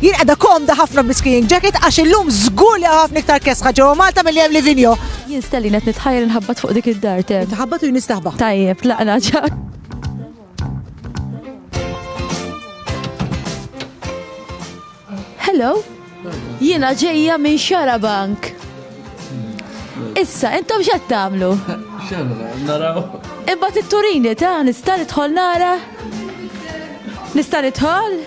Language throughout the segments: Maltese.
Jien qiegħda komda ħafna bl-skiing jacket għax illum żgur li hawn ħafna iktar kesħa ġewwa Malta milli hemm Livigno. Jien Stellin qed nitħajjel inħabbat fuq dik id-dar te. Tħabbat u jien nistaħba. Tajjeb, laqna ġak. Hello, jiena ġejja minn Xarabank. Issa, intom x'qed tagħmlu? X'għandna naraw? Imbagħad it-turini ta' nista' nidħol nara? Nista' nidħol?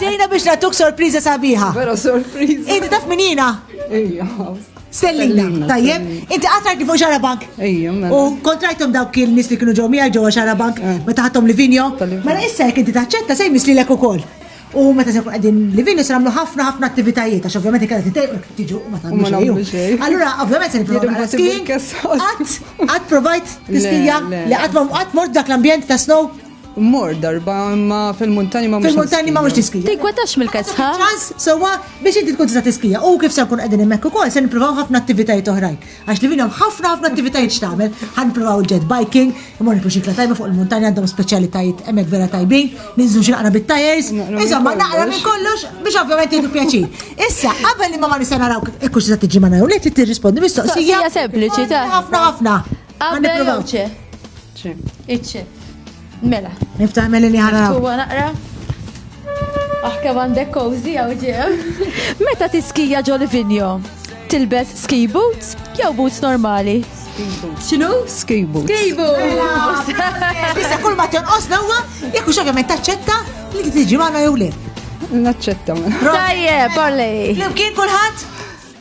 Ġejna biex natuk sorpriza sabiħa. Vera sorpriza. Inti taf minina? Ejja. Stellina, tajjeb, inti għatrajt fuq xara bank. Ejja, mela. U kontrajtom dawk kien nis li kienu ġew miegħi ġewwa xara bank, eh. meta ħadhom li vinjo. Mela issa jekk inti taċċetta se jmiss lilek ukoll. U meta se jkun qegħdin livin se nagħmlu ħafna ħafna attivitajiet għax ovvjament ikella titejqu jekk tiġu u ma tagħmlu xejn. Allura ovvjament se nipprova skiing. Qatt qatt provajt tiskija li qatt ma qatt mort dak l-ambjent ta' snow. Mor darba imma fil-muntani ma Fil-muntani ma mhux tiskija. Tikwetax mill-kesħa. Ċans sewwa biex inti tkun tista' tiskija. U kif se nkun qegħdin hemmhekk ukoll se nippruvaw ħafna attivitajiet oħrajn. Għax li minnhom ħafna ħafna attivitajiet x'tagħmel, ħan provaw jet biking, imma nikru xikla tajba fuq il-muntanja għandhom speċjalitajiet hemmhekk vera tajbin, ninżlu xi naqra bit-tajers, insomma naqra minn kollox biex ovvjament jieħdu pjaċir. Issa, qabel imma ma nista' naraw kif se tiġi ma naraw, li trid tirrispondi mistoqsija. Sempliċi ta' ħafna ħafna. Qabel Iċċe. Mela. Niftaħ meli li ħana. Tuwa naqra. Aħke għandek kowzi għaw ġew. Meta tiskija ġol vinjo, tilbes ski boots jew boots normali? Xinu? Ski boots. Ski boots. Issa kull ma tonqos l-ewwa, jekk xogħol ma taċċetta li tiġi magħna jew le. Naċċetta. Tajjeb, parlej. Flimkien kulħadd?